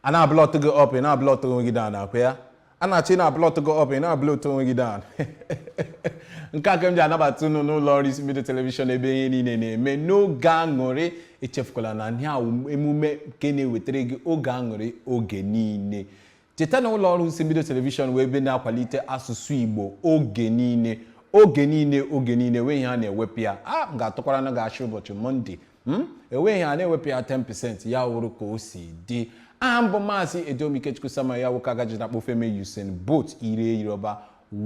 a na-ablọt gị up ị na-ablọt onwe gị down akwa ya a na-achọ ị na-ablọt gị up ị na-ablọt onwe gị down nke a ka m ji anabata unu n'ụlọ ọrụ isimbido telivishọn ebe ihe niile na-eme n'oge aṅụrị echefukwala na ihe a emume nke na-ewetara gị oge aṅụrị oge niile cheta na ụlọ ọrụ isimbido telivishọn wụ ebe na-akwalite asụsụ igbo oge niile oge niile oge niile wee ihe a na-ewepụ ya a m ga-atụkwara na ga-achị ụbọchị mọnde Hmm? enweghị ihe a na-ewepụ ya 10% ya wụrụ ka o si dị aha m bụ maazị edom ikechukwu samuel ya nwoke agaji na kpofeme usain bolt ire yoruba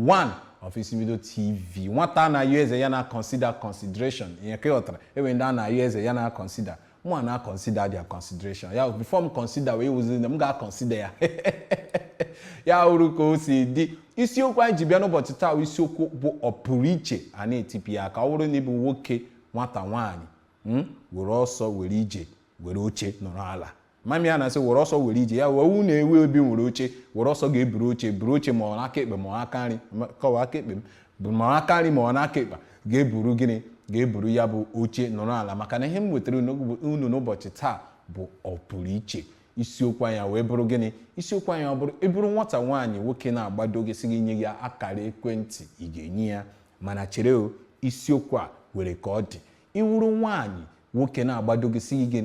one of isimbido tv nwata na-ayọ eze ya na consider consideration ihe ka ị ghọtara enwere ndị a na-ayọ eze ya na consider mụ a na consider their consideration ya before m consider wee wụzi m ga-consider ya ya wụrụ ka o si dị isiokwu anyị ji bịa n'ụbọchị taa isiokwu bụ ọpụrụ iche a na-etipụ ya ka ọ bụrụ na ị bụ nwoke nwata nwaanyị hmm, were ọsọ were ije were oche nọrọ ala mami ya na-asị were ọsọ were ije ya wee wu na-ewe obi nwere oche were ọsọ ga-eburu oche buru oche ma ọ n'aka ekpe ma ọ aka nri kọwa aka ekpe ma ọ aka nri ma ọ n'aka ekpe ga-eburu gịnị ga-eburu ya bụ oche nọrọ ala maka na ihe m wetara unu n'ụbọchị taa bụ ọpụrụ iche isiokwu anyị wee bụrụ gịnị isiokwu anyị ọ bụrụ ị bụrụ nwata nwaanyị nwoke na-agbado gị sị gị nye ya akara ekwentị ị ga-enye ya mana chere o isiokwu a nwere ka ọ dị ị wụrụ nwaanyị nwoke na-agbado gị sị gị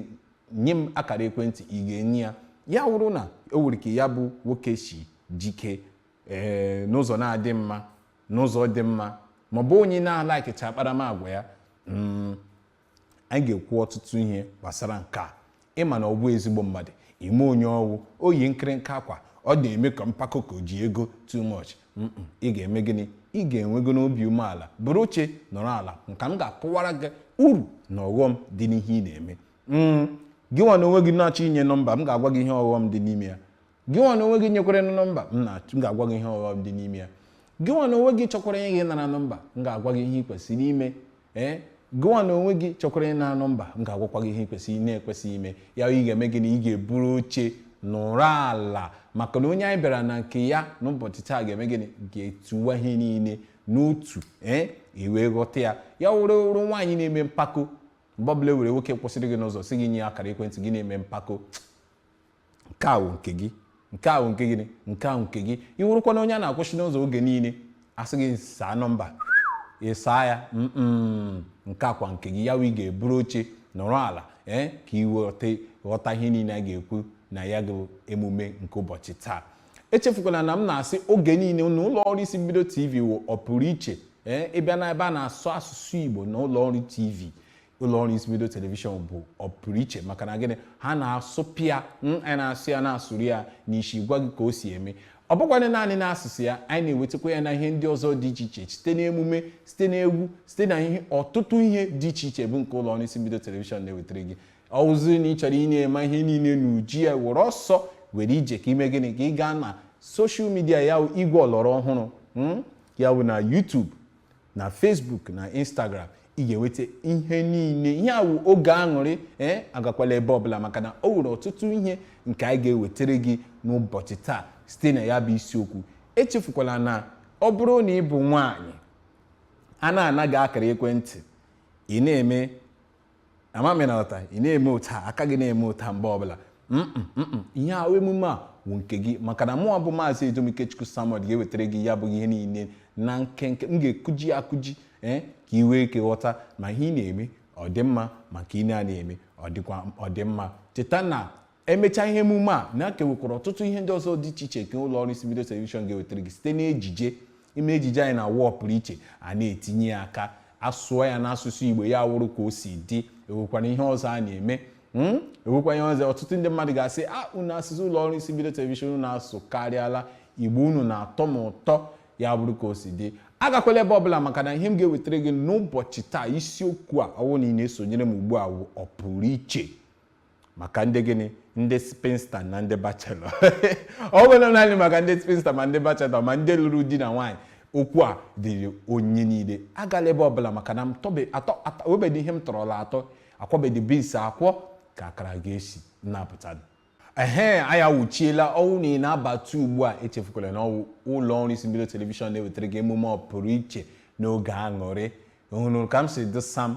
nye m akara ekwentị ị ga-enye ya ya wụrụ na o nwere ka ya bụ nwoke si jikee n'ụzọ na-adị mma n'ụzọ dị mma maọbụ onye na-alakicha akparamagwa ya anyị ga-ekwu ọtụtụ ihe gbasara nke a ị ma na ọ bụ ezigbo mmadụ ị ma onye ọ wụ o yi nkịrịnka akwa ọ na-eme ka mpako ka o ji ego too much ị ga-eme gịnị ị ga-enwego n'obi umeala buru oche nọrọ ala nka m ga-akọwara gị uru na ọghọm dị n'ihe ị na-eme mm, gị nwa na onwe gị na-achọ inye nọmba m ga-agwa gị ihe ọghọm dị n'ime ya gị nwa na onwe gị nyekwara na nọmba m na- m ga-agwa gị ihe ọghọm dị n'ime ya gị nwa na onwe gị chọkwara ịnara nọmba m ga-agwa gị ihe ị kwesịrị ime ee gị nwa na onwe gị chọkwara ịnara nọmba m ga-agwakwa gị ihe ị kwesịrị na-ekwesịghị ime ya ị ga-eme gịnị ị ga-eburu oche nọrọ ala maka na onye anyị bịara na nke ya n'ụbọchị taa ga-eme gịnị ga-etuwa ihe niile n'otu ee i wee ghọta ya ya wụrụ ị wụrụ nwaanyị na-eme mpako mgbe ọbụla e nwere nwoke kwụsịrị gị n'ụzọ sị gị nye ya akara ekwentị gị na-eme mpako nke a wụ nke gị nke a wụ nke gịnị nke a wụ nke gị ị wụrụkwa na onye a na-akwụsị n'ụzọ oge niile a sị gị saa nọmba ị saa ya mm nke a kwa nke gị ya wụ ị ga-eburu oche nọrọ ala ee ka ị ghọta ghọta ihe niile a ga-ekwu na ya bụ emume nke ụbọchị taa echefukwala na m na-asị oge niile na ụlọ ọrụ isimbido tv wụ ọpụrụ iche ee ị bịa na ebe a na-asụ asụsụ igbo na ụlọ ọrụ tv ụlọọrụ Isi Mbido Television bụ ọpụrụiche maka na gịnị ha na-asụpịa ya anyị na-asụ ya na-asụrụ ya n'isi gwa gị ka o si eme ọ bụkwanị naanị n'asụsụ ya anyị na-ewetakwa ya na ihe ndị ọzọ dị iche iche site n'emume site n'egwu site na ihe ọtụtụ ihe dị iche iche bụ nke ụlọọrụ Isi Mbido Television na-ewetara gị ọ wụziri na ị chọrọ ị na-eme ihe niile n'uju ya were ọsọ were ije ka i mee gịnị ka ị gaa na soshal midia ya igwe ọlọrọ ọhụrụ hmm? ya bụ na YouTube na Facebook na Instagram ị ga-enweta ihe niile ihe a wụ oge aṅụrị ee eh, agakwala ebe ọbụla maka na o nwere ọtụtụ ihe nke anyị ga-ewetara gị n'ụbọchị taa site na ya bụ isiokwu echefukwala na ọ bụrụ na ị bụ nwaanyị a na-anaga akara ekwentị ị na-eme ama m ịnarata ị na-eme otu a aka gị na-eme otu a mgbe ọbụla ihe ahụ emume a wụ nke gị maka na mụwa bụ maazị Edom Ikechukwu Samuel ga-ewetara gị ya bụ ihe niile na nkenke m ga-akụji akụji ee ka ị nwee ike ghọta ma ihe ị na-eme ọ dị mma ma ka ihe ị na-eme ọ dịkwa ọ dị mma cheta na e mechaa ihe emume a na a ka nwekwara ọtụtụ ihe ndị ọzọ dị iche iche nke ụlọ ọrụ isi mbido telivishọn ga-ewetara gị site n'ejije ime ejije anyị na-awụ ọpụrụ iche a na-etinye ya aka asụọ ya n'asụsụ igbo ya wụrụ ka o si dị e nwekwara ihe ọzọ a na-eme hmm? e nwekwa ihe ọzọ ọtụtụ ndị mmadụ ga-asị a ah, unu asụsụ ụlọ ọrụ isi mbido telivishọn unu asụkarịala igbo unu na-atọ m ụtọ ya bụrụ ka o si dị agakwala ebe ọbụla maka na ihe m ga-ewetara gị n'ụbọchị taa isiokwu a ọ wụ na ị na-esonyere m ugbu a wụ ọpụrụ iche maka ndị gịnị ndị spinsta na ndị bachelọ ọ bụghị naanị maka ndị spinsta ma ndị bachelọ ma ndị lụrụ di na nwaanyị okwu a dịrị onye niile agala ebe ọbụla maka na e nwebedị ihe m tọrọla atọ a kwọbedị bins akwọ ka akara ga-esi na-apụta ehe anyị awụchiela ọ wụ na ị na-abata ugbu a echefukwala na ọ wụ ụlọ ọrụ isi mbido telivishọn na-ewetara gị emume ọpụrụ iche n'oge aṅụrị hụrụ ka m si dị sam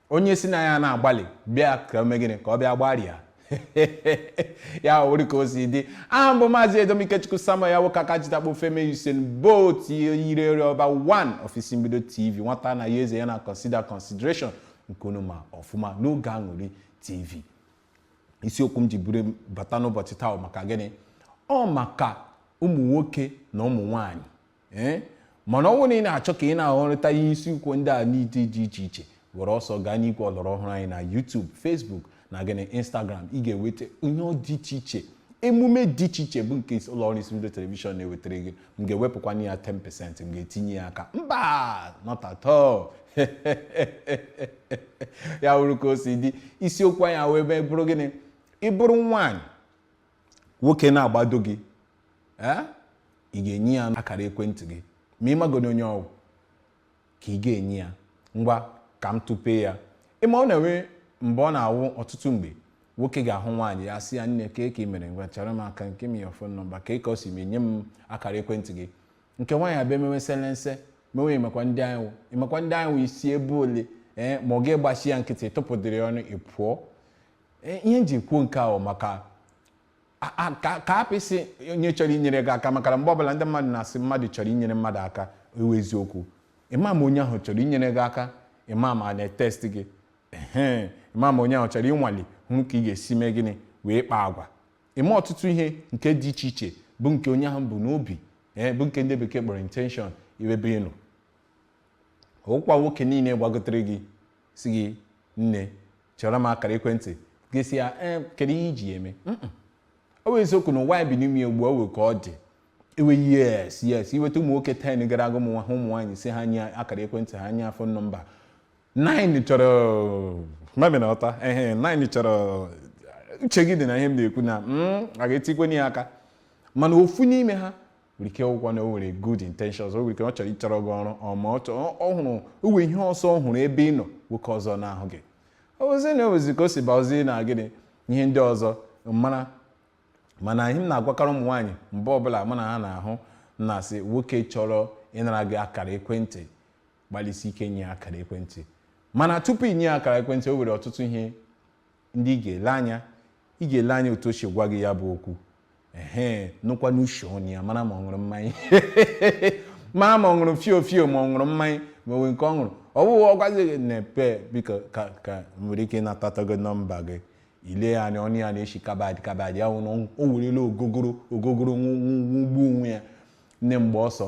onye si na ya na-agbalị bịa ka o mee gịnị ka ọ bịa gbarịa ya wụrụ ka o si dị aha m bụ maazị edom ikechukwu samuel ya nwoke aka jitakpo femi usain bolt yirere ọba 1 of isi mbido tv nwata na ya eze ya na consider consideration nke unu ma ọfụma n'oge aṅụrị tv isiokwu m ji buru bata n'ụbọchị taa maka gịnị ọ maka ụmụ nwoke na ụmụ nwanyị ee eh? mana ọ bụrụ na ị na-achọ ka ị na-ahọrịta ihe isiokwu ndị a n'ụdị dị iche iche were ọsọ gaa n'igwe ọlọrọ ọhụrụ anyị na YouTube Facebook na gịnị Instagram ị ga-enweta ihe dị iche iche emume dị iche iche bụ nke ụlọ ọrụ isi mbido telivishọn na-ewetara gị m ga-ewepụkwanụ ya 10% m ga-etinye ya aka mba not at all ya wụrụ ka o si dị isiokwu anyị wee bụrụ gịnị ị bụrụ nwaanyị nwoke na-agbado gị ee ị ga-enye ya akara ekwentị gị ma ị magodi onye ọ wụ ka ị ga-enye ya ngwa ka m tụpee ya ị ma ọ na-enwe mgbe ọ na-awụ ọtụtụ mgbe nwoke ga-ahụ nwaanyị ya sị ya nne ka eke mere ngwa chara m aka give me your phone number ka eke ọ si mee nye m akara ekwentị gị nke nwaanyị abịa mewe selense mewe ịmakwa ndị anyị wụ ịmakwa ndị anyị wụ i si ebe ole ee ma ọ ga-egbachi ya nkịtị tụpụdịrị ọnụ ị pụọ ihe m ji kwuo nke ahụ maka ka apịsị onye chọrọ inyere gị aka makana mgbe ọbụla ndị mmadụ na-asị mmadụ chọrọ inyere mmadụ aka ọ wụ eziokwu ị ma ma onye ahụ chọrọ inyere gị aka ị ma ma ọ na-etest gị ee ị ma ma onye ahụ chọrọ ịnwale hụ ka ị ga-esi mee gịnị wee kpaa agwa ị ma ọtụtụ ihe nke dị iche iche bụ nke onye ahụ bu n'obi ee bụ nke ndị bekee kpọrọ intention iwebe ịnụ ọkwa nwoke niile gbakwutere gị sị gị nne chere m akara ekwentị gị sị ya ee kedu ihe i ji eme ọ wụ eziokwu na ụwa e bi n'ime ugbu a o nwee ka ọ dị ewe yes yes i weta ụmụ nwoke 10 gara aga ụmụ nwa- ụmụ nwaanyị sị ha nye akara ekwentị ha nye phone number 9 chọrọ mami na ọta ehe 9 chọrọ uche gị dị na ihe m na-ekwu na mm, a ga-etikwenye ya aka mana ofu n'ime ha nwere ike ọ wụ na o nwere good intentions o nwere ike ọ chọrọ ịchọrọ gị ọrụ ọ ma ọ chọrọ ọ hụrụ o nwe ihe ọzọ ọ hụrụ ebe ị nọ nwoke ọzọ na-ahụ gị ozi na ozi ka o si baozi na gịnị ihe ndị ọzọ mara mana ihe m na-agwakarị ụmụ nwaanyị mgbe ọbụla mụ na ha na-ahụ m na-asị nwoke chọrọ ịnara gị akara ekwentị gbalịsi ike nye ya akara ekwentị mana tupu i nye ya akara ekwentị o nwere ọtụtụ ihe ndị ị ga-ele anya ị ga-ele anya otu o si gwa gị ya bụ okwu ehe nụkwanụ ishi ọnụ ya mara ma ọ ṅụrụ mmanya mara ma ọ ṅụrụ fio fio ma ọ ṅụrụ mmanya ma o nwe nke ọ ṅụrụ ọ bụghị ọ gwazi gị na-epe biko ka ka nwere ike ịnatata gị nọmba gị i lee ya anya ọnụ ya na-eshi carbide carbide ya wụrụ o werela ogogoro ogogoro ṅụgbuo onwe ya nne gbaa ọsọ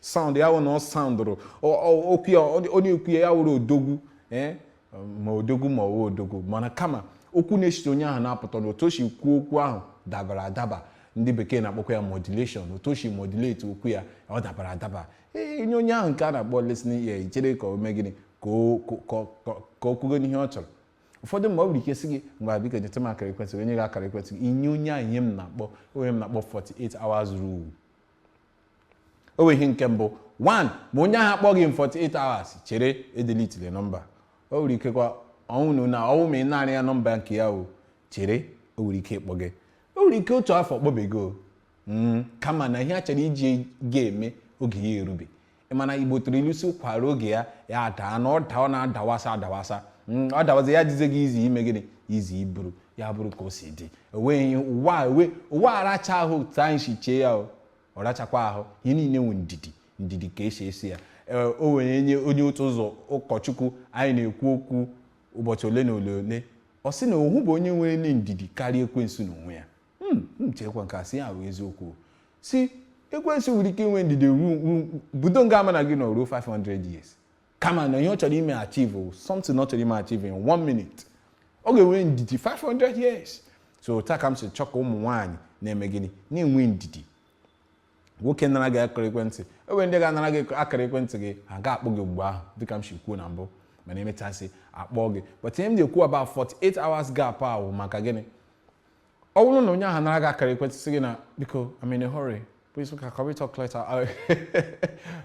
sound ya wụ na ọ soundụrụ okwu ya onye okwu ya ya wụrụ odogwu eh? ma odogwu ma ọ wụ odogwu mana kama okwu na-esite onye ahụ na-apụta na otu o si kwuo okwu ahụ dabara adaba ndị bekee na-akpọkwa ya modulation otu o si modulate okwu ya ọ dabara adaba ee nye onye ahụ nke a na-akpọ listening ear i chere ka o mee gịnị ka o- ka- ka- ka o kwugo n'ihe ọ chọrọ ụfọdụ mgbe o nwere ike sị gị ngwa biko nyeta m akara ekwentị gị, o nye gị akara ekwentị gị i nye onye ahụ ihe m na-akpọ ihe m na-akpọ 48 hours rule o nwe ihe nke mbụ one ma onye ahụ akpọghị in 48 hours chere edeletele nọmba o nwere ikekwa ọ wụ na ọ wụ ma ị nara ya nọmba nke ya o chere o nwere ike ịkpọ gị o nwere ike otu afọ ọ kpọbe gị hmm, kama na ihe a chọrọ iji gị eme oge ya erube ị ma na igbo tụrụ ilu sị ụkwa ruo oge ya ya adaa na ọ daa ọ na-adawasa adawasa Mm, ọ dawazi ya jize gị izi ime gịnị izi iburu ya bụrụ ka o si dị enweghị ụwa a- ewe- ụwa aracha ahụ otu anyị si chee ya o ọ rachakwa ahụ ihe niile nwe ndidi ndidi ka esi esi ya Ee, o nwere onye onye otu ụzọ ụkọchukwu anyị na-ekwu okwu ụbọchị ole na ole ole ọ sị na ọ hụbeghị onye nwere ndidi karịa ekwensu n'onwe ya Hmm, m cheekwa nke a sị ya bụ eziokwu sị ekwensu nwere ike inwe ndidi ruo ruo- budo nga a mụ na gị nọ ruo 500 years kama na ihe ọ chọrọ ime achieve o, something ọ chọrọ ime achieve in one minute ọ ga-enwe ndidi 500 years so otu a ka m si chọọ ka ụmụ nwaanyị na-eme gịnị na-enwe ndidi nwoke nara gị akara ekwentị enwere ndị ga-anara gị akara ekwentị gị ha ga-akpọ gị mgbe ahụ dịka m si kwuo na mbụ mana emechasị akpọ gị but ihe m na-ekwu about 48 hours gap ahụ maka gịnị ọ bụrụ na onye ahụ nara gị akara ekwentị sị gị na biko I'm in a hurry please can we talk later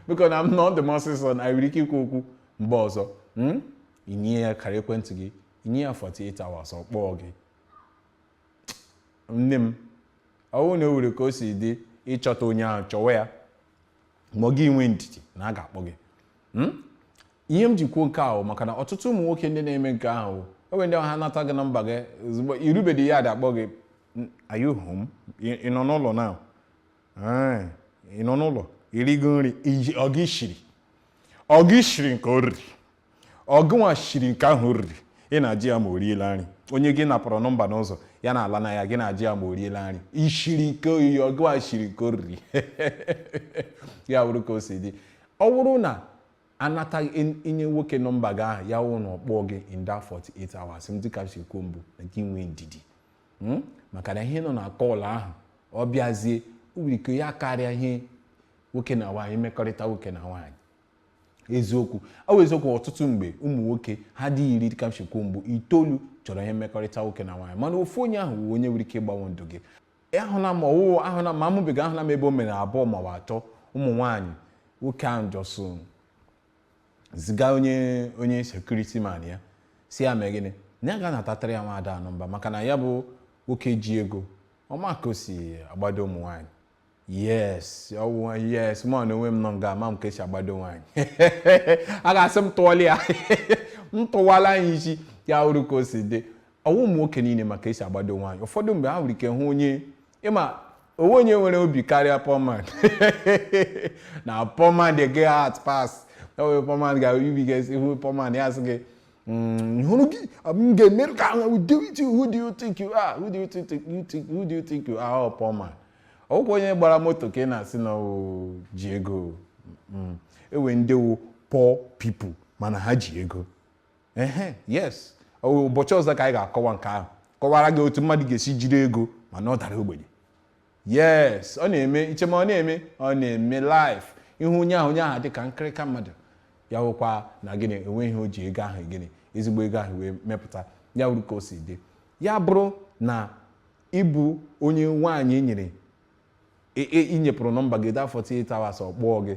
biko na m na ọ dị m ọsịsọ na anyị nwere ike ikwu okwu mgbe ọzọ hmm? ị nye ya akara ekwentị gị ị nye ya 48 hours ọ kpọọ gị nne m ọ wụrụ na o nwere ka o si dị ịchọta onye ahụ chọwa ya ma gị nwee ndidi na a ga-akpọ gị Hmm? ihe m ji kwuo nke ahụ maka na ọtụtụ ụmụ nwoke ndị na-eme nke ahụ enwe ndị ha nata gị nọmba gị ozugbo i rubedị ya ada akpọ gị "Mm, are you home? Ị- ị nọ n'ụlọ na ị nọ n'ụlọ i rigo nri iji- ọ gị shiri ọ gị shiri nke o riri ọ gịnwa shiri nke ahụ o riri ị na-ajụ ya ma o riela nri onye gị napụrụ nọmba n'ụzọ ya na-ala na ya gị na-ajụ ya ma o riela nri i shiri nke o riri ọ gịnwa shiri nke o riri ya bụrụ ka o si dị Ọ bụrụ na anata ị nye nwoke nọmba gị ahụ ya wụrụ na ọ kpọọ gị in that 48 hours dịka m si kwuo mbụ na gị nwee ndidi hmm? maka na ihe nọ na kọl ahụ ọ bịazie o nwere ike ya karịa ihe nwoke na nwaanyị mmekọrịta nwoke na nwaanyị eziokwu ọ bụ eziokwu ọtụtụ mgbe ụmụ nwoke ha dị iri dịka m si kwuo mbụ itoolu chọrọ ihe mmekọrịta nwoke na nwaanyị mana ofu onye ahụ wụ onye nwere ike ịgbanwe ndụ gị ahụla m ọwụwụ ahụla ma amụbiga ahụla m ebe o mere abụọ maọbụ atọ ụmụ nwaanyị nwoke ahụ just ziga onye onye security man ya sị ya mee gịnị na ya gaa natatara ya nwaada a nọmba maka na ya bụ nwoke ji ego ọ ma ka o si agbado ụmụ nwaanyị yes ọwụ yes mụ na onwe m nọ nga ama m ka esi agbado nwaanyị a ga-asị m tụọla ya m tụwala ya isi ya wụrụ ka o si dị ọ wụ ụmụ nwoke niile ma ka e si agbado nwaanyị ụfọdụ mgbe ha nwere ike hụ onye ị ma o nweghị onye nwere obi karịa poor man na poor man dey get heart pass ewe poor man ga-ebi gị ihu poor man ya sị gị mm, hụrụ gị m ga-emerụ gị ahụ who do you think you are who do you think you think who do you think you are poor man ọ wụkwa onye gbara moto ka ị na-asị na o ji ego mm, e nwee ndị wụ poor people mana ha ji ego ehe yes ụbọchị ọzọ ka anyị ga-akọwa nke ahụ kọwara gị otu mmadụ ga-esi jiri ego mana ọ dara ogbenye yes ọ na-eme i che ma ọ na-eme ọ na-eme life ị hụ onye ahụ onye ahụ dị ka nkịrịka mmadụ ya wụkwa na gịnị enweghị ihe o ji ego ahụ gịnị ezigbo ego ahụ wee mepụta ya wụrụ ka o si dị ya bụrụ na ị bụ onye nwaanyị e nyere e- e- i nyepụrụ nọmba gị under 48 hours ọ kpọọ gị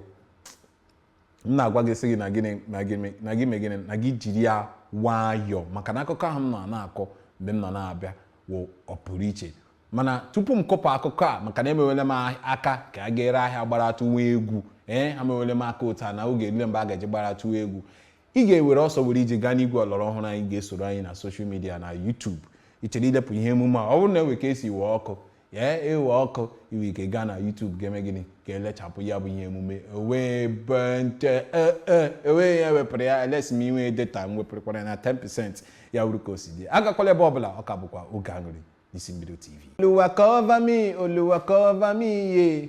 m na-agwa gị sị gị na gịnị na gị me- na gị mee gịnị na gị jiri ya nwayọọ maka na akụkọ ahụ m nọ na-akọ mgbe m nọ na-abịa wụ ọ pụrụ iche mana tupu m kọpụ akụkọ a maka na emewele m ah- aka ka a ga-ere ahịa gbaratụ nwa egwu ee ha mewele m aka otu a na oge erule mgbe a ga-eji gbaratụ nwa egwu ị ga-ewere ọsọ were ije gaa n'igwe ọlọrọ ọhụrụ anyị gaa soro anyị na soshal midia na YouTube ị chọrọ ilepụ ihe emume a ọ bụrụ na e nwee ka e si wee ọkụ ee e wee ọkụ i nwee ike gaa na YouTube gaa mee gịnị gaa lechapụ ya bụ ihe emume ewee bente ewee ya wepụrụ ya elesi m i nwee data m wepụrụkwara na 10% ya wụrụ ka o si dị agakwala ebe ọbụla ọ ka bụkwa oge aṅụrị n'isi mbido tv Oluwa cover me, Oluwa cover me, yeah.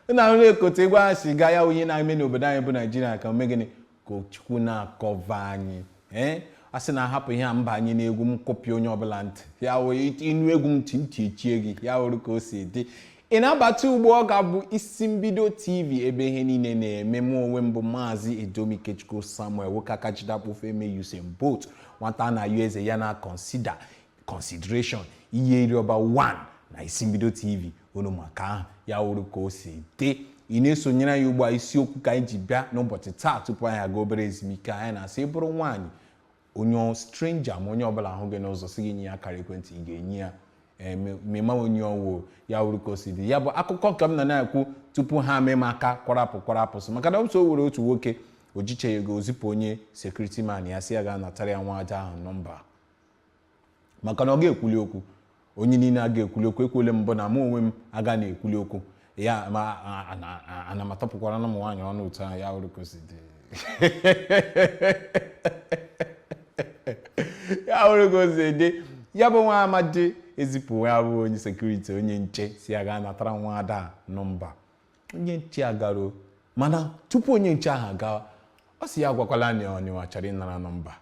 Unu ahụna ka otu egwu a si gaa ya wụ ihe na-eme n'obodo anyị bụ Naijiria ka o mee gịnị ka Chukwu na-acover anyị ee a sị na a hapụ ihe a m banye n'egwu m kụpịa onye ọbụla ntị ya wee ị nụ egwu m ntị ntị echie gị ya wụrụ ka o si dị ị na-abata ugbu a ọ ka bụ isi mbido tv ebe ihe niile na-eme m onwe m bụ maazị edom ikechukwu samuel nwoke aka ji dakpo ofe e mee usain bolt nwata na-ayọ eze ya na consider consideration ihe iriọba 1 na isi mbido tv unu maka ahụ ya wụrụ ka o si dị ị na-esonyere anyị ugbu a isiokwu ka anyị ji bịa n'ụbọchị taa tupu anyị aga obere ezumike anyị na-asị ị bụrụ nwaanyị onye stranger ma onye ọbụla ahụ gị n'ụzọ si gị nye ya akara ekwentị ị ga-enye ya ee, ma- ma ị ma onye ọ wụ ya wụrụ ka o si dị ya bụ akụkọ nke m nọ na-ekwu tupu ha mee m aka kwarapụ kwarapụ so maka na m so o nwere otu nwoke o jicha ego o zipụ onye security man ya sị ya gaa natara ya nwa ada ahụ nọmba maka na ọ ga-ekwuli okwu onye niile a ga-ekwuli okwu ekwuole m mbụ na mụ onwe m aga na-ekwuli okwu ya ma a- a- a- a- ana m atọpụkwara na ụmụ nwaanyị ọnụ otu ahụ ya wụrụ ka o si dị ya wụrụ ka o si dị ya bụ nwa amadi ezipụ ya bụ onye security onye nche sị ya gaa natara nwa ada a nọmba onye nche agaruo mana tupu onye nche ahụ agawa ọ sị ya agwakwala na ọ mụwa chọrọ ịnara nọmba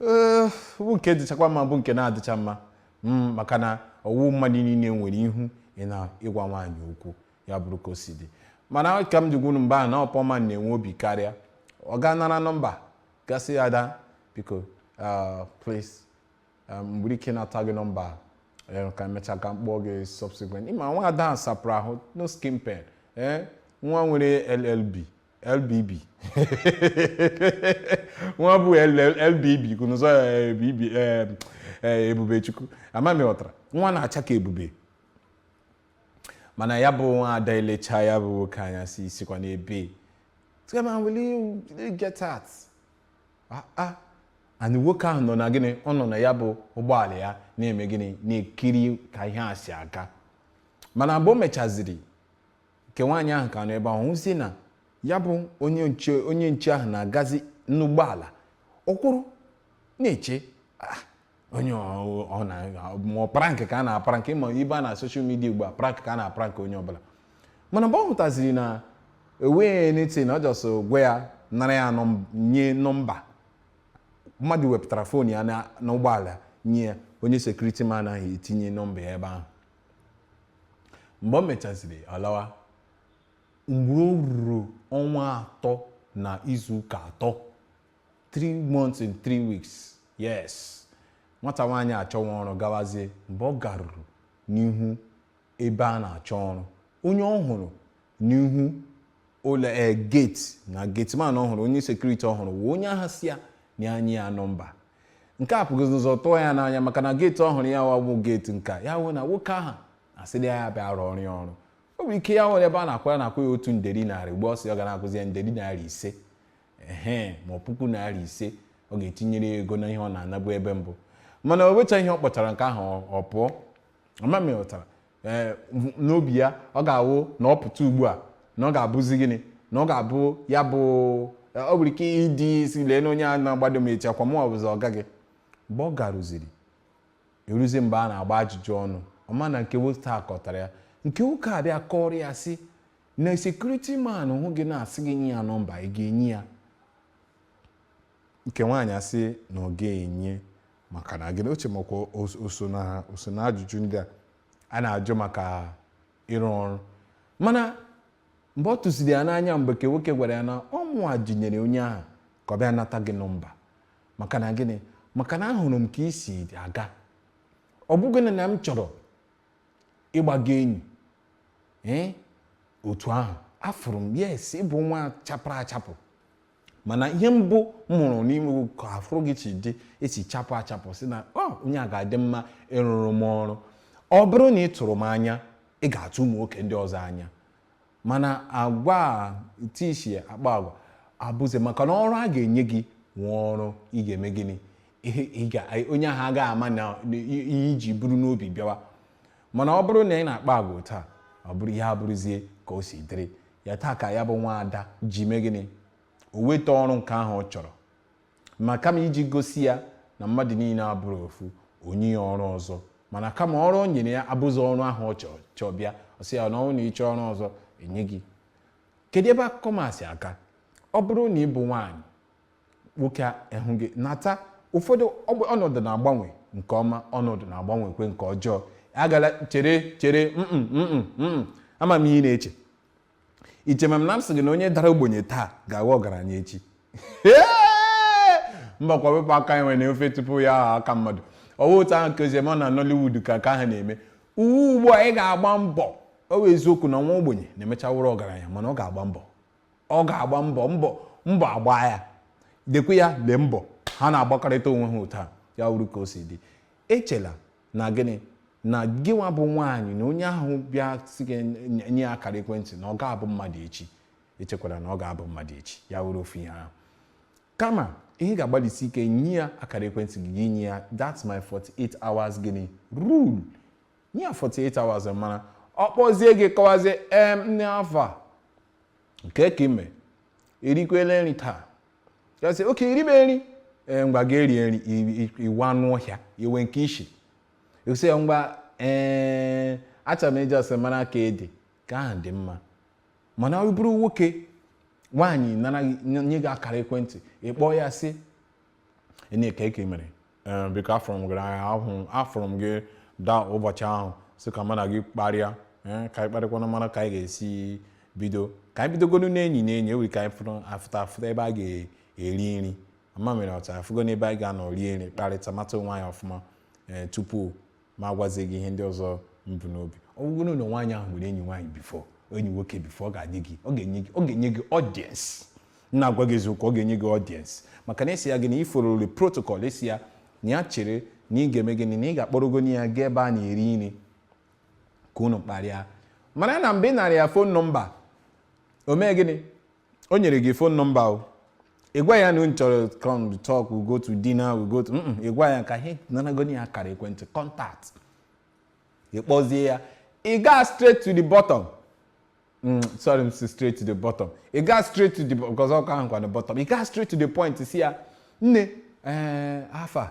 ee bụ nke dịchakwa mma bụ nke na-adịcha mma m maka na ọ wụ mmadụ niile nwere ihu ị na ịgwa nwaanyị okwu ya bụrụ ka o si dị mana ka m ji gwa unu mba na poor man na-enwe obi karịa ọ gaa nara nọmba gaa sị ya ada biko ah, please ah, m nwere ike nata gị nọmba ee ka e mechaa ka m kpọọ gị subsequent ị ma nwa ada a sapụrụ ahụ no skin pain ee nwa nwere LLB LBB nwa bụ LBB kunụzọ ya Ebubechukwu ama m ị ghọtara nwa na-acha ka ebube mana ya bụ nwa ada elecha ya bụ nwoke anya sị sikwa n'ebe a gawa will you get out ah ah and nwoke ahụ nọ na gịnị ọ nọ na ya bụ ụgbọala ya na-eme gịnị na-ekiri ka ihe a si aga mana mgbe o mechaziri nke nwaanyị ahụ ka nọ ebe ahụ hụzie na ya bụ onye nche onye nche ahụ na-agazi n'ụgbọala ọ kwụrụ na-eche "Ah, onye ọ ọ na ma ọ prank ka a na-aprank ma ibe a na social media ugbu a prank ka a na-aprank onye ọbụla mana mgbe ọ hụtaziri na o nweghị anything na ọ just gwa ya nara ya nọm- nye nọmba mmadụ wepụtara phone ya na- n'ụgbọala nye ya onye security man ahụ etinye nọmba ya ebe ahụ mgbe o mechaziri alawa mgbe o ruru ọnwa atọ na izu ụka atọ 3 months and 3 weeks yes nwata nwaanyị achọwa ọrụ gawazie mgbe ọ garuru n'ihu ebe a na-achọ ọrụ onye ọ hụrụ n'ihu ụlọ ee gate na gateman ọ hụrụ onye security ọ hụrụ wụ onye ahụ sị ya na ya nye ya nọmba nke a buruzi ụzọ tụọ ya n'anya maka na gate ọ hụrụ ya wụ gate nka ya wụ na nwoke ahụ asịrị ya ya bịa rụọrọ ya ọrụ o nwere ike ya nwere ebe a na-akwara na-akwụ ya otu nderi narị ugbu a ọ sị ọ ga na-akwụzi ya nderi narị ise ehe ma ọ puku narị ise ọ ga-etinyere ya ego na ihe ọ na-anabu ebe mbụ mana o nwecha ihe ọ kpọchara nke ahụ ọ- ọ pụọ ama m ị ghọtara ee eh, n'obi ya ọ ga-awụ na ọ pụta ugbu a na ọ ga-abụzi gịnị na ọ ga-abụ ya bụ eh, ọ nwere ike ịdị isi lee na onye a na-agbado m echi ọ kwa mụwa bụzi ọga gị mgbe ọ garụziri eruzie mgbe a na-agba ajụjụ ọnụ ọ ma na nke nwoke a kọtara ya nke nwoke a bịa kọrọ ya sị na security man hụ gị na-asị gị nye ya nọmba ị ga-enye ya Nke nwaanyị asị na ọ ga-enye maka na gịnị o che makwa o so na ha o so na ajụjụ ndị a a na-ajụ maka ịrụ ọrụ mana mgbe ọ tụsiri ya n'anya mgbe nke nwoke gwara ya na ọ mụwa zijere onye ahụ ka ọ bịa nata gị nọmba maka na gịnị maka na ahụrụ m ka i si aga ọ bụghị na na m chọrọ ịgba gị enyi ee otu ahụ afụrụ m yes ị bụ nwa chapụrụ achapụ mana ihe mbụ m hụrụ n'ime ka afụrụ gị chi dị esi chapụ achapụ sị na onye a ga-adị mma ịrụrụ m ọrụ ọ bụrụ na ị tụrụ m anya ị ga-atụ ụmụ nwoke ndị ọzọ anya mana agwa tishi akpa agwa abụzi maka na ọrụ a ga-enye gị wụ ọrụ ị ga-eme gịnị onye ahụ agaghị ama ihe i ji buru n'obi bịawa mana ọ bụrụ na ị na-akpa agwa taa ọ bụrụ ya abụrụzie ka o si dịrị ya taa ka ya bụ nwa ada ji mee gịnị o weta ọrụ nke ahụ ọ chọrọ ma kama iji gosi ya na mmadụ niile abụrọ ofu o nye ya ọrụ ọzọ mana kama ọrụ o nyere ya abụzi ọrụ ahụ ọ chọrọ chọọ bịa ọ sị ya na ọ wụrụ na ị chọọ ọrụ ọzọ e nye gị kedu ebe akụkọ masị aka ọ bụrụ na ị bụ nwaanyị nwoke ahụ gị nata ụfọdụ ọnọdụ na-agbanwe nke ọma ọnọdụ na-agbanwekwe nke ọjọọ agala chere chere mm mm mm ama m ihe ị na-eche iche ma m na m sị gị na onye dara ogbenye taa ga-aghọ ọgaranya echi mba kwa wepụ aka enwe n'ofe tupu ya aghọ aka mmadụ ọ wụ otu ahụ ka o si eme na Nollywood ka ka ha na-eme uwe ugbu a ị ga-agba mbọ ọ bụ eziokwu na nwa ogbenye na-emecha wụrụ ọgaranya mana ọ ga-agba mbọ ọ ga-agba mbọ mbọ mbọ agba ya lekwe ya lee mbọ ha na-agbakọrịta onwe ha otu a ya wụrụ ka o si dị echela na gịnị na gịnwa bụ nwaanyị na onye ahụ bịa sị gị nye- nye ya akara ekwentị na ọ ga-abụ mmadụ echi echekwara na ọ ga-abụ mmadụ echi ya wụrụ ofu ihe ahụ kama ihe ga-agbalịsi ike nye ya akara ekwentị gị gị nye ya that's my 48 hours gịnị rule nye ya 48 hours mara ọ kpọzie gị kọwazie em nne afa kee ka i me i rikwela nri taa ya sị okay i ribe nri ee ngwa gaa rie nri ị wụ anụ ọhịa i nwekwe ishi ị sị ya ngwa ee achọrọ m ịjụ ese mara ka ị dị ka ahụ dị mma mana ọ bụrụ nwoke nwaanyị nara nye gị akara ekwentị ị kpọọ ya sị nne kee ka i mere ee biko afụrụ m gị afụrụ m gị da ụbọchị ahụ sị ka mụ na gị kparịa ee ka anyị kparịkwanụ mara ka anyị ga-esi bido ka anyị bidogonu n'enyi na enyi ọ wụrụ ka anyị fụrụ afụta afụta ebe a ga-eri nri ama mere ọta afụgo n'ebe anyị ga-anọ rie nri kparịta mata onwe anyị ọfụma ee tupu m agwazie gị ihe ndị ọzọ m bu n'obi ọ bụrụ na nwaanyị ahụ nwere enyi nwaanyị bifọ enyi nwoke bifọ ọ ga-adị gị ọ ga-enye gị ọ ga-enye gị ọdiens na-agwa gị eziokwu ọ ga-enye gị ọdiens maka na isi ya gị na i fọlọrọ protokọl isi ya na ya chere na ị ga-eme gịnị na ị ga-akpọrọgo ya gaa ebe a na-eri nri ka unu kparịa mara na mgbe ị nara ya fon nọmba o mee gịnị o nyere gị phone number o ị gwa ya na unu chọrọ come to talk we go to dinner we go to mm ị gwa ya ka ị nanagoni ya akara ekwentị contact ị kpọzie ya ị gaa straight to the bottom Mm, sorry m si straight to the bottom ị gaa straight to the because ọ ka wụkwa the bottom ị gaa straight to the point sị ya nne ee afa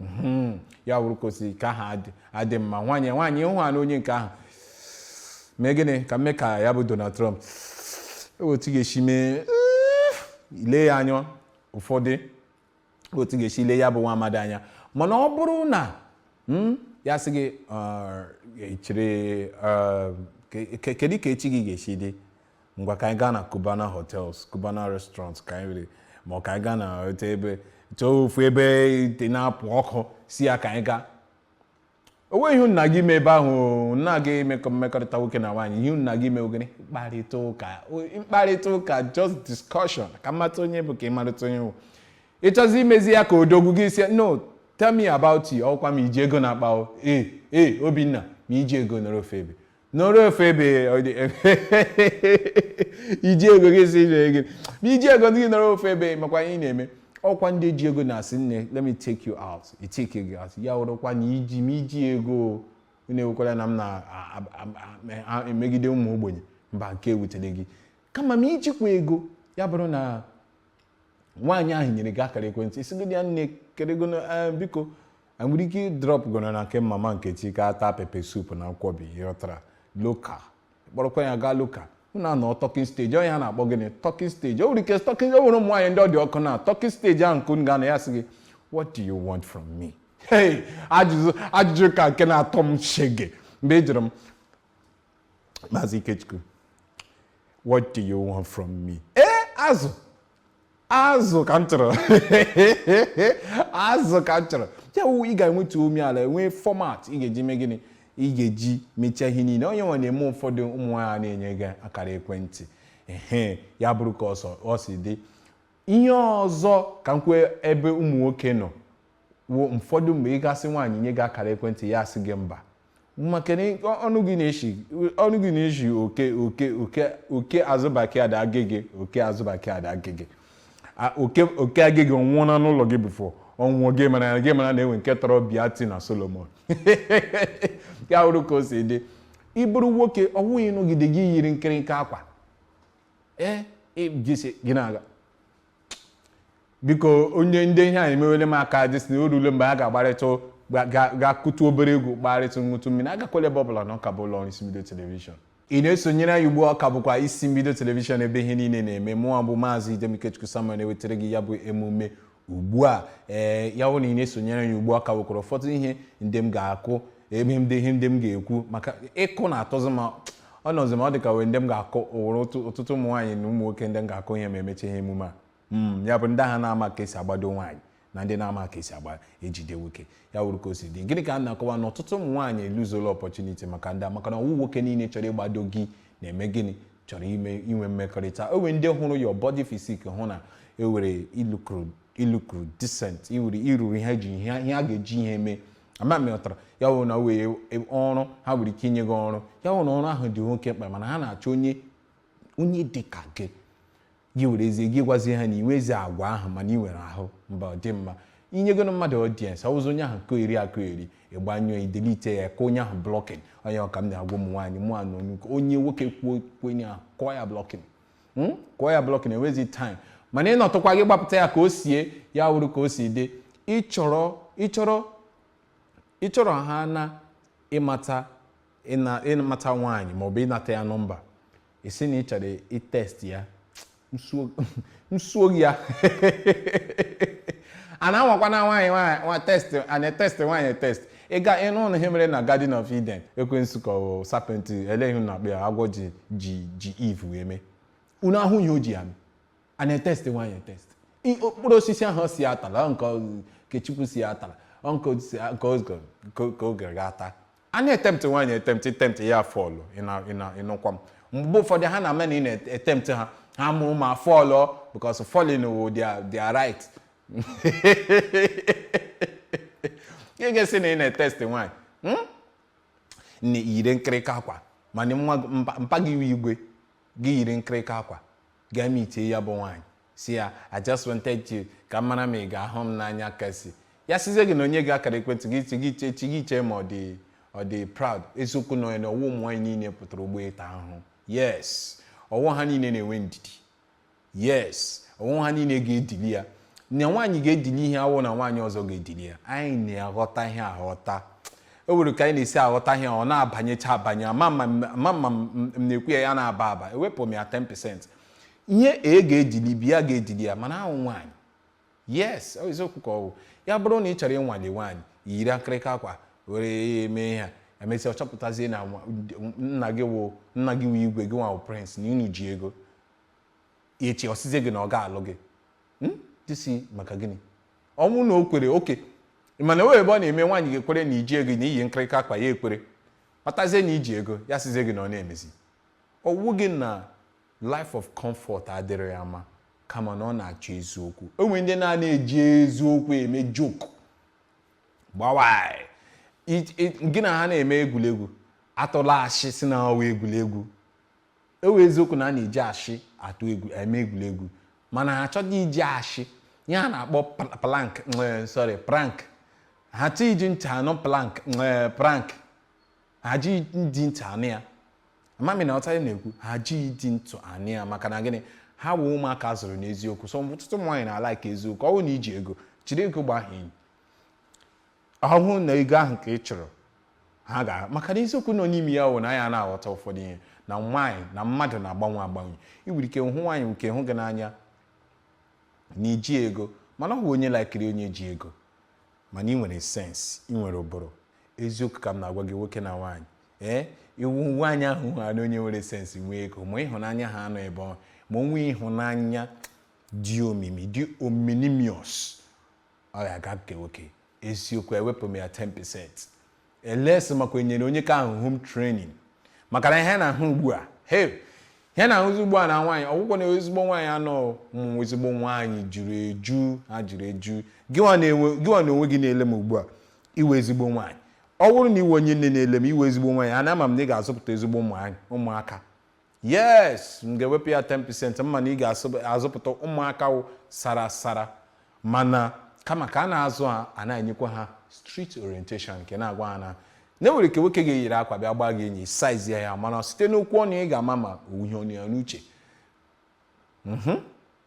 Mhm. ya wụrụ ka o si ka aha adị- adị mma nwaanyị nwaanyị hụ ha na onye nke ahụ mee gịnị ka m mee ka ya bụ Donald Trump o nwe otu ọ ga-esi mee ile ya anya ụfọdụ o nwe otu ọ ga-esi ile ya bụ nwa amadi anya mana ọ bụrụ na mm, ya sị gị "Ah, ị chere ah, ke- ke- kedu ka echi gị ga-esi dị ngwa ka anyị gaa na Cubana hotels Cubana restaurants ka anyị were ma ọ ka anyị gaa na otu ebe chọọ ofu ebe ite na-apụ ọkụ sị ya ka anyị gaa o nweghị ihe unu na-aga ime ebe ahụ o, unu anaghị emekọ mmekọrịta nwoke na nwaanyị ihe unu na-aga ime ọ gịnị mkparịta ụka o- mkparịta ụka just discussion ka m mata onye ị bụ ka ị marịta onye m bụ ị chọzi imezi ya ka odogwu gị sị ya no tell me about you ọkwa ma i ji ego n'akpa o ee ee Obinna ma i jighị ego nọrọ ofu ebe nọrọ ofu ebe iji ego gị si ire gị ma i jighị ego ndị gị nọrọ ofu ebe makwa ihe ị na-eme ọkwa ndị ji ego na-asị nne let me take you out i take gị out ya wụrụkwa na iji ma i jighị ego unu ewekwala na m na-emegide ụmụ ogbenye mba nke a ewutela gị kama ma i jikwa ego ya bụrụ na nwaanyị ahụ nyere gị akara ekwentị ị sịgodị ya nne kerego biko anyị nwere ike drop gonu na nke mama Nkechi ka a taa pepper soup na nkwobi ị ghọtara local ị kpọrọkwa ya gaa local unu anọọ talking stage ọ ihe a na-akpọ gịnị talking stage o nwere ike talking o nwere ụmụ nwaanyị ndị ọ dị ọkụ na talking stage ahụ nke unu ga-anọ ya sị gị what do you want from me hey ajụjụ ajụjụ ka nke na-atọ m shege mgbe ị jụrụ m maazị Ikechukwu what do you want from me ee azụ azụ ka m chọrọ azụ ka m chọrọ ya wụ ị ga-enwetu umeala nwee format ị ga-eji mee gịnị ị ga-eji mechaa ihe niile ọ ihe nwa na-eme ụfọdụ ụmụ nwaanyị na-enye gị akara ekwentị ehe ya bụrụ ka o si dị ihe ọzọ ka m kwuo ebe ụmụ nwoke nọ wụ ụfọdụ mgbe ị ga-asị nwaanyị nye gị akara ekwentị ya asị gị mba maka na ọnụ gị na-eshi ọnụ gị na-eshi oke oke oke oke azụbaki ada agịgị oke azụbaki ada agịgị A- oke oke agịgị ọ nwụọna n'ụlọ gị before ọ nwụọ gị mara na gị mara na e nwe nke tọrọ Biati na Solomon ya wụrụ ka o si dị ị bụrụ nwoke ọ wụghị ị nọgide gị yiri nkịrịka akwa ee ị- gị si- gị na-aga biko onye ndị ihe a emewele m aka dịsị na o rule mgbe a ga-agbarịtụ ga-akụtu obere egwu gbarịtụ ṅụtụ mmiri agakwala ebe ọbụla na ọ ka bụ ụlọ ọrụ isi mbido telivishọn ị na-esonyere anyị ugbu a ọ ka bụkwa isi mbido telivishọn ebe ihe niile na-eme mụwa bụ maazị idem ikechukwu samuel na-ewetara gị ya bụ emume ugbu a ee ya bụ na ị na-esonyere anyị ugbu a ọ ka nwekwara ụfọdụ ihe ndị m ga-akụ ebe m dị ihe ndị m ga-ekwu maka ịkụ na-atọzi m ọ nọzi m ọ dị ka wee ndị m ga-akụ ụwụrụ otu- ọtụtụ ụmụ nwaanyị na ụmụ nwoke ndị m ga-akụ ihe ma emecha ihe emume a Mm, ya bụ ndị ahụ na-ama ka e si agbado nwaanyị na ndị na-ama ka e si agba ejide nwoke ya wụrụ ka o si dị gịnị ka a na-akọwa na ọtụtụ ụmụ nwaanyị eluzola opportunity maka ndị a maka na ọ wụ nwoke niile chọrọ ịgbado gị na-eme gịnị chọrọ ime inwe mmekọrịta o nwere ndị hụrụ your body physique hụ na i were i lukuru i lukuru decent i were i ruru ihe ji ihe ihe a ga-eji ihe mee ama m ị ghọtara ya wụ na wee ọrụ ha nwere ike inye gị ọrụ ya wụ na ọrụ ahụ dị oke mkpa mana ha na-achọ onye onye dị ka gị gị werezie gị gwazie ha na i nwe ezi agwa ahụ mana ị nwere ahụ mba ọ dị mma inyegonu mmadụ audience ọ wụzi onye ahụ kọyeri akọyeri ị gbanyụọ i delete ya kụọ onye ahụ blocking ọ ya ka m na-agwa ụmụ nwaanyị mụ anụ onye nwoke kwuo onye ahụ kụọ ya blocking hmm? kụọ ya blocking enwezi time mana ị nọtụkwa gị gbapụta ya ka o sie ya wụrụ ka o si dị ị chọrọ ị chọrọ ị chọrọ ha na ịmata ịmata nwaanyị ma ọ bụ ịnata ya nọmba ị sị na ị chọrọ ịtest ya nsuo ya a na-anwakwa na nwaanyị nwaanyị test a na-etest nwaanyị etest ị ga ịnụ ụnụ ihe mere na Garden of Eden ekwensu ka ọ serpent ele ihe a na-akpọ ya agwọ ji ji ji Eve wee mee unu ahụ ihe o ji ya mee a na-etest nwaanyị etest I- mkpụrụ osisi ahụ sị atala nke ọ- nke Chukwu sị atala ọ nke o si- nke o zgo- nke o- nke o gara ata a na-etempt nwaanyị etempt i tempt ya fọlụ ịna- ịna- ị nụkwa m mgbe ụfọdụ ha na-ama na ị na-etempt ha ha mara ụma fọlụ because falling wụ their their right ị ga-asị na ị na-etesti nwaanyị hmm? na yiri nkịrịka akwa mana nwa mpa gị wụ igwe gị yiri nkịrịka akwa gaa mitie ya bụ nwaanyị sị ya I just wanted to ka m mara ma ị ga-ahụ m n'anya kasị ya sịzie gị na o nye gị akara ekwentị gị chi gị chee chi gị chee ma ọ dị ọ dị proud eziokwu na onye na ọ wụ ụmụ nwaanyị niile pụtara ugbu a ịta ahụhụ yes ọ wụ ha niile na-enwe ndidi yes ọ wụ ha niile ga-edili ya na nwaanyị ga-edili ihe awụ na nwaanyị ọzọ ga-edili ya anyị na-aghọta ihe aghọta o nwere ka anyị na-esi aghọta ihe ọ na-abanyecha abanye ama ma mma m na-ekwu ya ya na-aba aba ewepụ m ya 10% ihe e ga-edili bi ya ga-edili ya mana awụ nwaanyị yes eziokwu ka ọ wụ ya bụrụ na ị chọrọ ịnwale nwaanyị yiri nkịrịka akwa were eme ihe a emesịa ọ chọpụtazie na nna gị wụ nna gị wụ igwe gị nwa wụ prince na unu ji ego ya echi ọ sịzie gị na ọ ga-alụ gị hmm? ị sị maka gịnị ọ wụ na o kwere oke mana e nwee ebe ọ na-eme nwaanyị ga-ekwere na i ji ego na i yi nkịrịka akwa ya ekwere matazie na i ji ego ya sịzie gị na ọ na-emezi ọ wụghị na life of comfort adịghị ya mma kama na ọ na-achọ eziokwu e nwe ndị na-ana eji eziokwu eme joke gwawa gị na ha na-eme egwuregwu atụla ashị sị na ọ wụ egwuregwu ọ wụ eziokwu na a na-eji ashị atụ egwu eme egwuregwu mana ha achọghị iji ashị ihe a na-akpọ pl- plank eh, sorry prank ha achọghị iji ntị anụ plank eh, prank ha ejighị ntị anụ ya ama m na ị ghọtara ihe m na-ekwu ha ejighị ntị anụ ya maka na gịnị ha bụ ụmụaka a zụrụ n'eziokwu so ọtụtụ ụmụ nwaanyị na-alaikị eziokwu ọ bụrụ na i ji ego chịrị ego gbaa ha enyi ọ wụ na ego ahụ ka ị chọrọ ha ga maka na eziokwu nọ n'ime ya wụ na ya na-aghọta ụfọdụ ihe na nwaanyị na mmadụ na-agbanwe agbanwe i nwere ike hụ nwaanyị nke hụ gị n'anya na i ji ego mana ọ bụ onye laikiri onye ji ego mana i nwere sense i nwere ụbụrụ eziokwu ka m na-agwa gị nwoke na nwaanyị ee ị hụ nwaanyị ahụ ha na onye nwere sense nwee ego ma ịhụnanya ha anọ ebe ọ ma o nwe ịhụnanya dị omimi dị ominimius Oya gaa nke nwoke. Eziokwu ewepụ m ya 10 percent. Unless makwa e nyere onye nke ahụ home training. Maka na ihe na-ahụ ugbu a. Hey! Ihe na-ahụzi ugbu a na nwaanyị ọ wụkwọ na ezigbo nwaanyị anọ ụmụ ezigbo nwaanyị juru eju ha juru eju gịnwa n'onwe gị na-ele m ugbu a ị wụ ezigbo nwaanyị ọ bụrụ na ị wụ onye nne na-ele m ị wụ ezigbo nwaanyị ana ama m na ị ga-azụpụta ezigbo ụmụaka yes m ga-ewepụ ya 10% ama m na ị ga-azụpụta ụmụaka wụ sara sara mana kama ka a na-azụ ha a na-enyekwa ha street orientation nke na-agwa ha na na e nwere ike nwoke ga-eyiri akwa bịa gbaa gị enyi size ya ya mana site n'okwu ọnụ ị ga-ama ma ọ wụ ihe nọ ya n'uche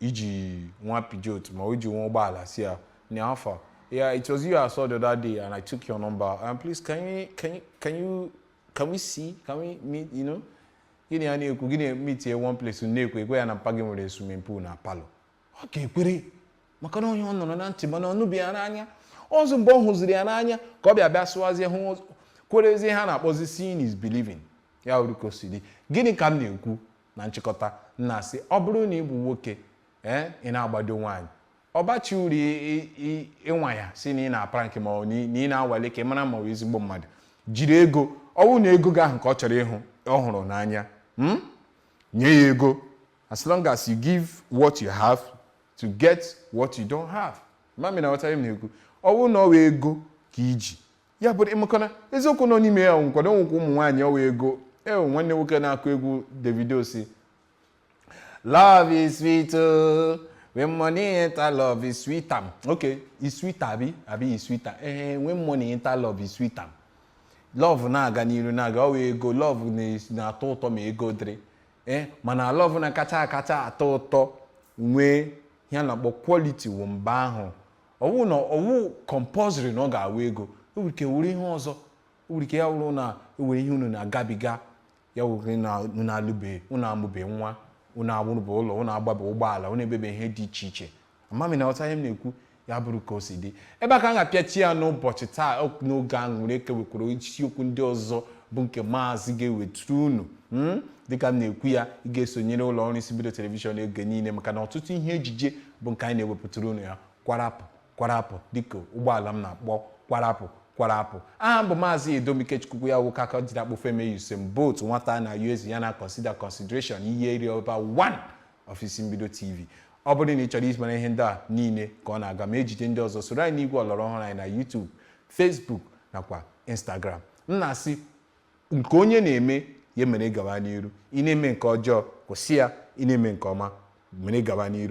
i ji nwa Peugeot ma i ji nwa ụgbọala sị ya na phone yeah it was you I saw the other day and I took your number and um, please can you can you can you can we see can we meet you know gị na ya na-ekwu gịnị meet ya one place na-ekwe ekwe ya na mpa gị nwere swimming pool na parlour ọ ga-ekwere maka na ọ wụ ihe ọ nụrụ na ntị mana ọ hụbeghị ya n'anya ọzọ mgbe ọ hụziri ya n'anya ka ọ bịa bịa sụwazie hụ kwerezie ihe a na-akpọzi seeing is believing ya wụrụ ka o si dị gịnị ka m na-ekwu Na nchịkọta, m na-asị, ọ bụrụ na ị bụ nwoke, ee, ị na-agbado nwaanyị, ọ bachaghị uru ị- ị- ị- ịnwa ya sị na ị na-aprank ma ọ bụ na ị- na ị na-anwale ka ị mara ma ọ bụ ezigbo mmadụ jiri ego ọ bụrụ na ego gị ahụ ka ọ chọrọ ịhụ ọ hụrụ n'anya mm? nye ya ego as long as you give what you have to get what you don't have ama m na ị ghọtara ihe m na-ekwu ọ bụrụ na ọ bụ ego ka i ji ya bụ ị makwa na eziokwu nọ n'ime ya nkwado nwekwa ụmụ nwaanyị ọ wụ ego nwanne nwoke na-akụ egwu Davido sị love is sweet oh. when money enter love is sweeter okay is sweet abi abi is sweeter eh when money enter love is sweeter love na-aga n'iru na-aga ọ wụ ego love na-atọ ụtọ ma ego dịrị eh mana love na-akacha akacha atọ ụtọ nwee ihe a na-akpọ quality wụ mba ahụ ọ wụ na ọ wụ compulsory na ọ ga-awụ ego o nwere ike wụrụ ihe ọzọ o nwere ike ya wụrụ na e nwere ihe unu na-agabiga ya wụrụ na unu alụbe unu amụbe nwa unu arụbe ụlọ unu agbabe ụgbọala unu emebe ihe dị iche iche ama m ị na-aghọta ihe m na-ekwu ya bụrụ ka o si dị ebe a ka m ga-apịachi ya n'ụbọchị taa ọ- n'oge a nwere ike nwekwara isiokwu ndị ọzọ bụ nke maazị ga-eweturu unu mm? dịka m na-ekwu ya ị ga-esonyere ụlọ ọrụ isi mbido telivishọn oge niile maka na ọtụtụ ihe ejije bụ nke anyị na-ewepụtara unu ya kwarapụ kwarapụ dịka ụgbọala m na-akpọ kwarapụ kwarapụ aha m bụ maazị edom ikechukwu ya nwoke aka jiri akpụ femi usain bolt nwata na us ya na consider consideration ihe iri ọba 1 of isi mbido tv ọ bụrụ na ị chọrọ ịmara ihe ndị a niile ka ọ na-aga ma ejije ndị ọzọ soro anyị n'igwe ọlọrọ ọhụrụ anyị na youtube facebook nakwa instagram m na-asị nke onye na-eme ya mere gawa n'iru ị na-eme nke ọjọọ kwụsị ya ị na-eme nke ọma mere gawa n'iru